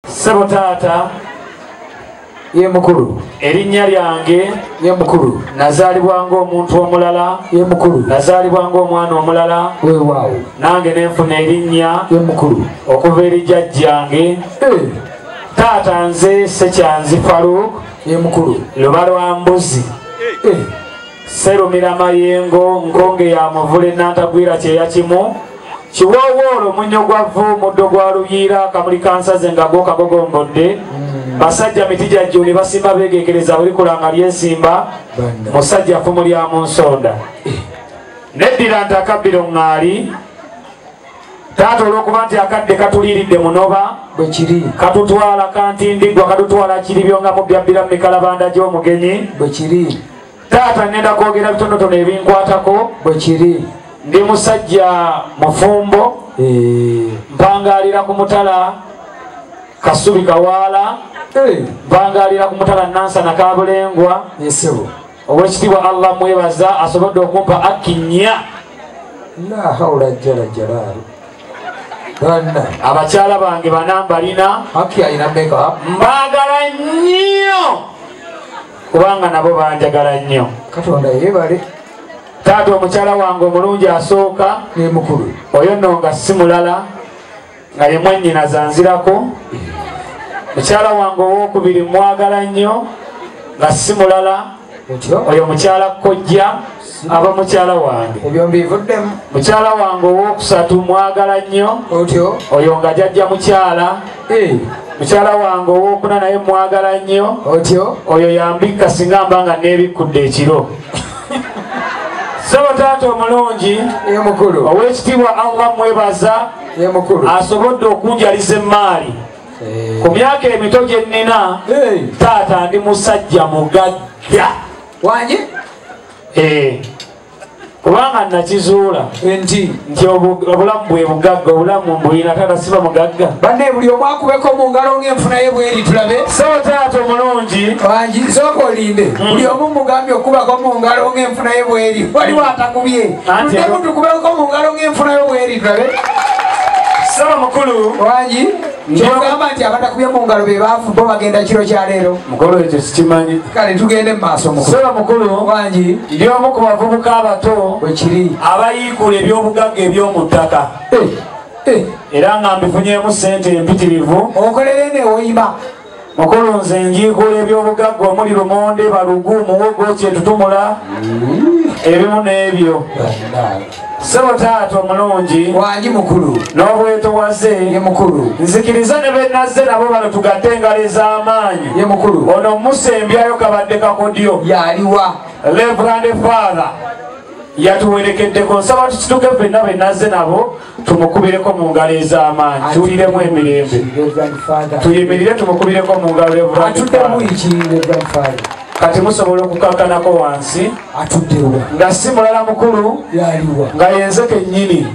sebo taata ye mukulu erinnya lyange ye mukulu nazaalibwa ng'omuntu omulala ye mukulu nazaalibwa ng'omwana omulala wewaawo nange nenfuna erinnya ye mukulu okuva eri jajjange eh. taata nze sekyanzi faruuk ye mukulu luba lwa mbuzi eh. serumira mayengo nkonge ya muvule nantagwira kyeya kimu kiwoowoolo munyo gwa vvu muddo gwa luyiira akamuli kansaze nga go kagogombodde hmm. basajja miti gya jjuuli basimba beegekereza bulikulanga lyesimba musajja ffumu lya mu nsonda eh. neddira nti akabbiro ŋŋaali taata olwokuba nti akadde katuliiridde munoba bwekiri katutwala kantindiggwa katutwala kiri byongamu byabbira mu mikalabanda gy'omugenyi bwekiri taata ngenda kwogera bitonotono ebinkwatako bwekiri ndi musajja mufumbo eh. mpangalira ku mutala kasubi kawaala eh. mpangalira ku mutala nansana kabulengwa esebo owekitiibwa allah mwebaza asobodde okumpa akkinya lahawula jala jalaali abakyala bange banambalina mbagala nnyo kubanga nabo banjagala nnyo katonda yebale taata omukyala wange omulungi asooka nemukulu oyo nno nga si mulala nga ye mwannyina zanzirako mukyala wange owokubiri mwagala nnyo nga si mulala oyo mukyala kojja aba mukyala wange ebyo mbivuddemu mukyala wange owokusatu mwagala nnyo otyo oyo nga jajja mukyala eh. mukyala wange owokuna naye mwagala nnyo otyo oyo yambikka singa mba nga nebikkudde ekiro saba taata omulungi emukulu owekitiibwa allah mwebaza emukulu asobodde okunjaliza emmaali eh. ku myaka emito gye nnina eh. taata ndi musajja mugagga wanye eh, kubanga nakizuula nti nti obulamu bwe bugagga obulamu mbuyina taata siba mugagga banne buli omu akubeko mu ngalo ng'enfuna ye bweri tulabe so taata omulungi wangi sooka olinde hmm. buli omu mugambye okubako mu ngalo ng'enfuna ye bweri waliwo hmm. atakubye tudemutukubeko mu ngalo ng'enfuna yo bweri tulabe saba mukulu wangi kyogamba nti abatakubye mu ngalo be baafu bo bagenda kiro kya leero mukulu ekyo sikimanyi kale tugende mu maaso musolo mukulu wangi ndi omu ku bavubuka abato wekiri abayiikula ebyobugagga eby'omu ttaka eh, eh. era nga mbifunyemu ssente empitirivu okolere newoyima mukulu nze njiikula ebyobugagga omuli lumonde balugu muwogo kyetutumula ebimu n'ebyo sebo taata omulungi wangi mukulu n'obwetowaze ye mukulu nzikiriza ne benazze nabo bano tugatte engalo ez'amaanyi ye mukulu ono omusa embyayo kabadde kakodyo yaliwa levrande father yatuwerekeddeko nsaba tukituke fenna benazze nabo tumukubireko mu ngalo ez'amaanyi tuwuliremu emirembe tuyimirire tumukubireko mu ngalo eburakati kati musobola okukakanako wansi atuddewa nga si mulala mukulu yaliwa nga yenze kennyini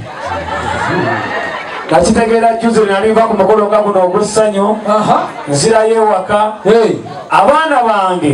nakitegeera juzi nalinva ku mukolo nga guno ogw'essanyu nzirayo ewaka abaana bange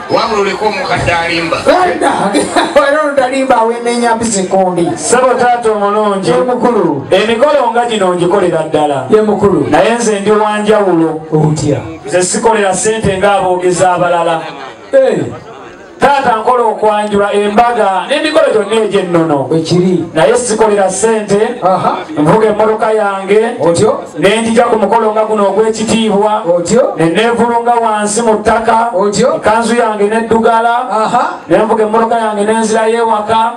wabula oleka omukadde alimba era olutalimba awenenya mpisi kumbi sabo taata omulungi mukulu emikolo nga gino ngikolera ddala ye mukulu naye nze ndi wanjawulo otya nze sikolera sente ng'aboogezi abalala eh. taata nkola okwanjula embaga n'emikolo gyonna egy'ennono ekiri naye sikolera sente nvuga emmotoka yange otyo nenjija ku mukolo nga guno ogw'ekitiibwa ne neevulunga wansi mu ttaka ekanzu yange neddugala ne nvuga emmotoka yange nenzirayo ewaka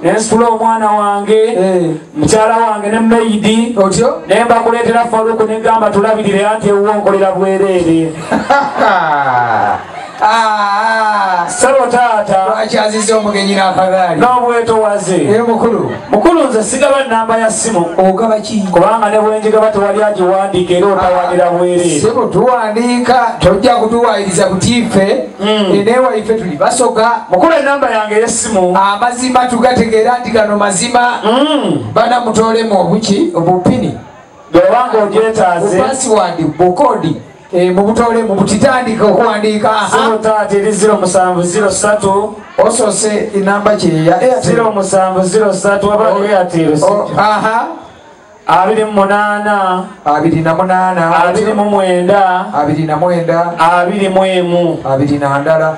ne nsitula omwana wange eh. mukyala wange ne meidi ne mbakuleetera faluku ne gamba tulabirire anti ewuwo nkolera bwereere Ah. sebo taata lwaki aziza omugenyi n'akagaali n'obwetowaze naye mukulu mukulu nze sigaba namba ya simu ogaba ki kubanga ne bwenjigaba tewali agiwandiika era otawanira ah, bwere sebo tuwandiika tojja kutuwayiriza kutiife hmm. enewaife tuli basoga mukulu enamba yange ey'essimu amazima tugategeera nti gano mazima hmm. bana mutoolemu obuki obupini bwewanga ogyetaaze pasiwandi bukodi Eh, mubutole mubutitandika okuwandiika ziro taata eri ziro musanvu ziro satu osose enamba kyeya ziro musanvu ziro satu wabaeatiro oh, aha abiri mumunana abiri na munana abiri mumwenda abiri na mwenda abiri mwemu abiri na ndala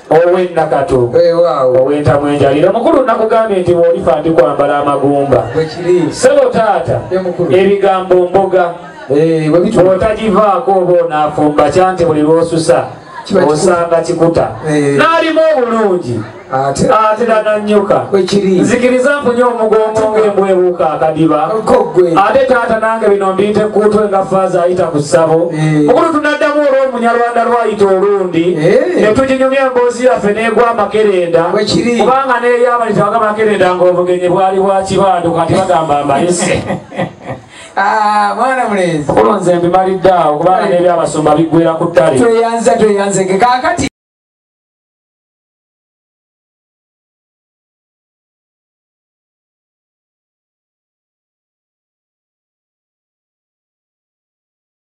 ow'ennakatu ow'entamu enjalira mukulu nakugambye nti bwolifa ndi kwambala amagumba sebo taata ebigambo mboga eh, bwotagivaako oba onaafumba kyanti buli lwosusa osanga kikuta eh. n'alimu obulungi ate nananyuka nzikiriza mpunye omugongo ngembwebuuka akadiba ate taata nange bino mbiyita ekkuutwe nga faaza ayita ku ssabo eh. mukulu tunaddamu olw'omunyarwanda lwayita oluuno emirundi eh. ne tuginyumya emboozi yaffe n'egwa amakerenda kubanga n'eyo abali tebaga makerenda ng'obugenyi bwali bwa kibandu kati bagamba mbalise Ah, mwana mulenzi kulonze mbimalidde awo kubanga n'ebyabasumba biggwera ku ttale tweyanza tweyanzeke kakati